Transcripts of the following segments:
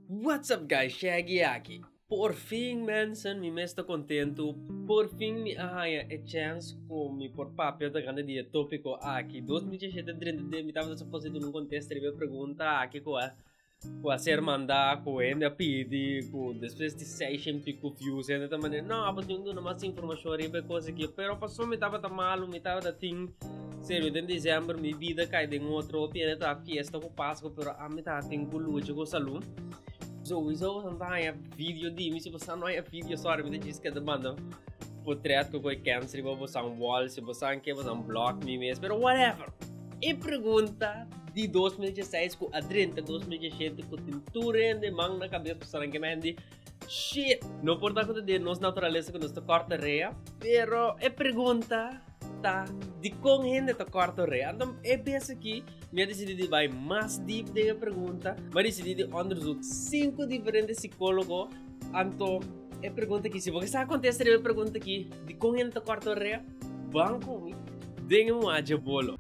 What's up guys Shaggy aki. Por fin mensen mi mes ta contento por fin mi a haya e chance cu mi por papia tocante di e topico aki dos mil diecisiete drenta di mi tabata suposo duna un contesta riba e pregunta aki cu a cu a ser manda cu hende a pidi cu despues di seis en pico views hende ta manda no apo tin duna mas informacion riba e cosa aki pero pasobra mi tabata malo mi tabata tin Serio den december mi bida cay den otro hopi ene ta fiesta cu pascua pero ami ta tin cu lucha cu salu sowieso pasobra no ta haya video dimi si bosa no haya video sorry mi ta djis keda banda potret cu coy cans riba bosan wall si bosa ke bosan block mi mes pero whatever e pregunta di dos mil dieseis cu a drenta dos mil dieshete cu tin tur hende man na cabes pasobra nan ke mehdi Shit! No por ta acuda di nos naturalesa cu nos ta corta rea. Pero e pregunta ta dicon hende ta corta rea. Anto e bes aki mi a decidi di bay mas deep den e pregunta. Mi a decidi di onderzoek cinco diferente psicologo. Anto e pregunta aki, si bo ke sa contesta riba e pregunta aki, dicon hende ta corta rea, ban cu mi den un aja bolo.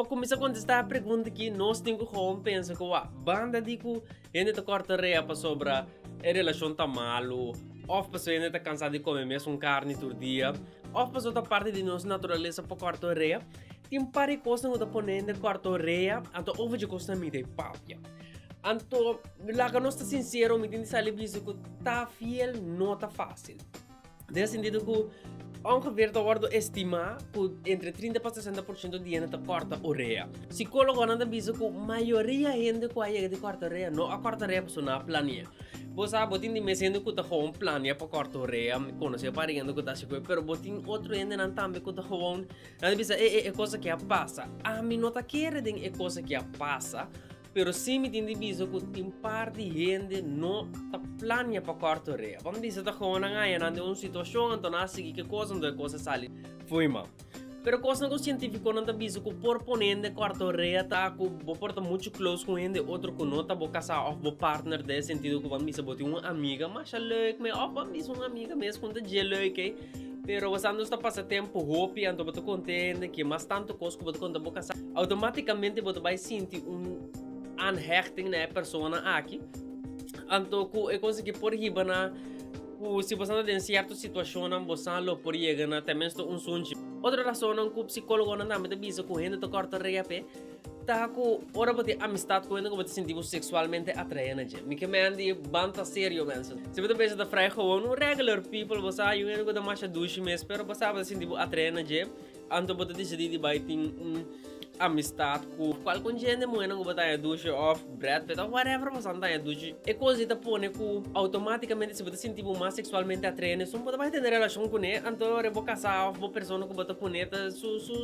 Pa kuminsá kontestá e pregunta ki nos tin ku houn pensa ku wak, banda di ku hende ta kòrta rea pasobra e relashon ta malu, òf pasobra hende ta kansá di kome mesun karni tur dia, òf pasobra ta parti di nos naturalesa pa kòrta rea, tin un par di kosnan ku ta pone hende kòrta rea, anto ova dje kosnan mi ta e papia. Anto, laga nos ta sinsero, mi tin di sali bisa ku ta fiel no ta fásil. Den sentido cu ongeveer ta wordo estima cu entre trinta pa sesenta por ciento di hende ta corta orea. Psicologonan ta bisa cu mayoria hende cu a yega di corta orea no a corta orea pasobra no a planea. Bo sa bo tin di mes hende cu ta gewoon planea pa corta orea, mi conoce un par di hende cu ta haci cu e pero bo tin otro hendenan tambe cu ta gewoon nan ta bisa e e e cosa aki a pasa. Ami no ta kere den e cosa aki a pasa Pero si mi tin di bisa ku tin par di hende no ta plania pa kòrtu rea. Bo ta bisa ta komo nan haña nan den un situashon anto nan a sigui ke kos anto e kos a sali fo'i mal. Pero kosnan ku sientifikonan ta bisa ku por pone hende kòrtu rea ta ku bo por ta muchu klous ku hende otro ku no ta bo kasá òf bo partner den e sentido ku ban bisa bo tin un amiga masha lèuk me òf ban bisa un amiga mes ku ta dje lèuk ei. Pero wos anto ta pasa tempu hopi, anto bo ta kontente ke mas tantu kos ku bo ta konta bo kasa. Outomatikamente bo ta bai sinti un aanhechting na e persona aki. Anto ku e kos aki por hiba na ku si bosan ta den sierto situashonnan bosa lo por yega na tenminste un sunchi. Otro rasonnan ku psikologonan tambe ta bisa ku hende ta kòrta reape Ta cu ora bo tin amistad cu hende cu bo ta sinti bo sexualmente atrae na dje. Mi ke mea di ban ta serio mensen. Si bo ta pensa ta frai gewoon un regular people bo sa hay un hende cu ta masha dushi mes pero bo sa bo ta sinti bo atrae na dje anto bo ta decidi di bay tin un amistad cu cual con dje hende muhernan cu bo ta haya dushi of Brad Pitt of whatever bo san ta haya dushi. E cos ei ta pone cu automaticamente si bo ta sinti bo mas sexualmente atrae na esun bo ta bay tene relacion cune anto ora bo casa of bo persona cu bo ta cune ta su su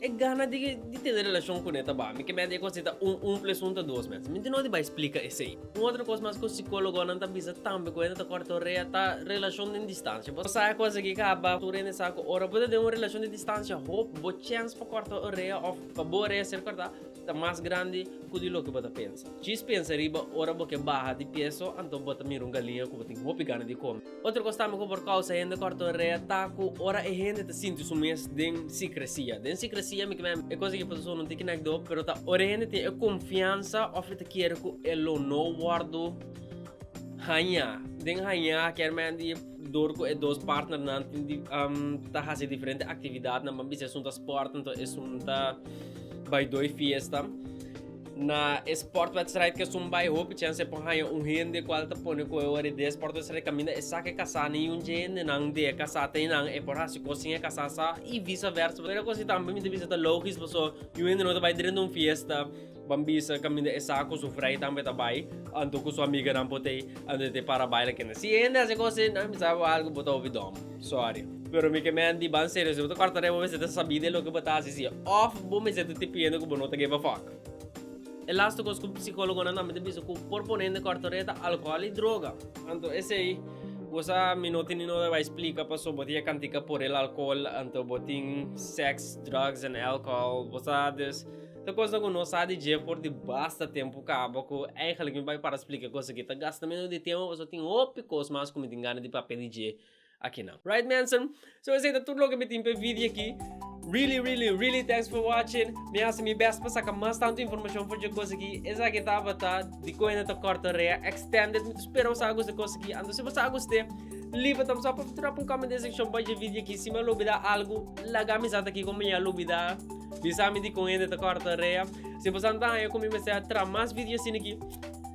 E gana di di tene relashon kuné ta baha. Mi ke mèt ei kon si ta un un ples un ta dos mèt. Mi tin no di bai splika esei. Un otro kos mas ku sikólogonan ta bisa tambe ku hende ta kòrtorea ta relashon den distansia. Bo sa e kos aki kaba. Tur hende sa ku ora bo ta den un relashon di distansia hopi bo chèns pa kòrtorea òf pa bo orea ser kòrtá ta mas grandi ku di loke bo ta pensa. Djis pensa riba ora bo ke baha di pieso anto bo ta mira un galiña ku bo tin hopi gana di kome. Otro kos tambe ku por kousa hende kòrtonrea ta ku ora e hende ta sinti su mes den sikresia. Den sikresia mi kibè e kos aki por ta sona un tiki nekdo, pero ta ora e hende tin e konfiansa òf e ta kere ku e lo no wòrdu hañá. Den hañá kier mende di. dor cu e dos partnernan ta haci diferente actividadnan, pan bisa esun ta sport anto esun ta bai doi fiesta. Na e sportwedstrijd cu esun bai hopi chance e por haya un hende cual ta pone cu e worde di e sportwedstrijd caminda e sa cu e casa na yunchi hendenan di e casa ta nan e por haci cos sin e casa sa y visaversa. Mira cu asi tambe mi ta bisa ta logisch pasobra yu hende no ta bai drenta un fiesta. Ban bisa kaminda e sa ku su frei tambe ta bai, anto ku su amiganan por te anto te para baila kende. Si e hende hasi akosi, nan bisa bo algu bo ta hopi dòm. Sòri. Pero mi ke men di ban serio, si bo ta kòrta rei bo mester ta sabí den loke bo ta hasi si òf bo mester ta tipiendo ku bo no ta give a fòk. E laste kos ku psikólogonan tambe ta bisa ku por pone hende kòrta rei ta alkohòl i droga. Anto esei bo sa mi no tin di nota bai splika paso bo ta yega kantika por el alkohòl anto bo tin sèks, drògs en alkohòl. Bo sa des. Ta cosa cu no sa di dje for di basta tempo caba cu eigenlijk mi bay para splica cos aki. Ta gasta menos di tempo pasobra tin hopi cos mas cu mi tin gana di papia di dje aki nan. Right mensen? So esey ta tur loke mi tin p'e video aki. Really really really thanks for watching. Mi haci mi best pa saca mas tanto informacion for dje cos aki. Esaki tabata di cuenta ta corta rea extended. Mi ta spera bo sa gusta cos aki. Anto si bo sa guste liba ta bo sa por drop un comment den seccion bay dje video aki. Si mi a lo bida algu laga amizat aki cu mi a lo bida. Bisa mi di con hende ta corta rea. Si bo sa ta haya cu mi mester a traha mas video asina aki,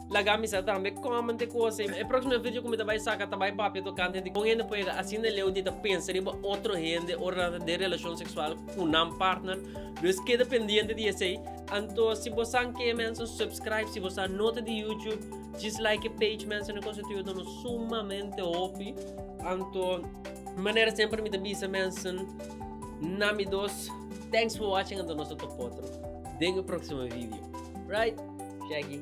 laga mi sa tambe comment e cosa. E proximo video cu mi ta bay saca ta bay papia tocante di con hende por yega asina leu di ta pensa riba otro hende ora nan ta den relacion sexual cu nan partner. Dus keda pendiente di esey. Anto si bo sa ken mensen subscribe, si bo sa no ta di YouTube djis like e page mensen e cosa ta yuda nos sumamente hopi. Anto manera semper mi ta bisa mensen. Na mi dos. Thanks for watching anto nos a topa otro den e proximo video. Right? Shaggy.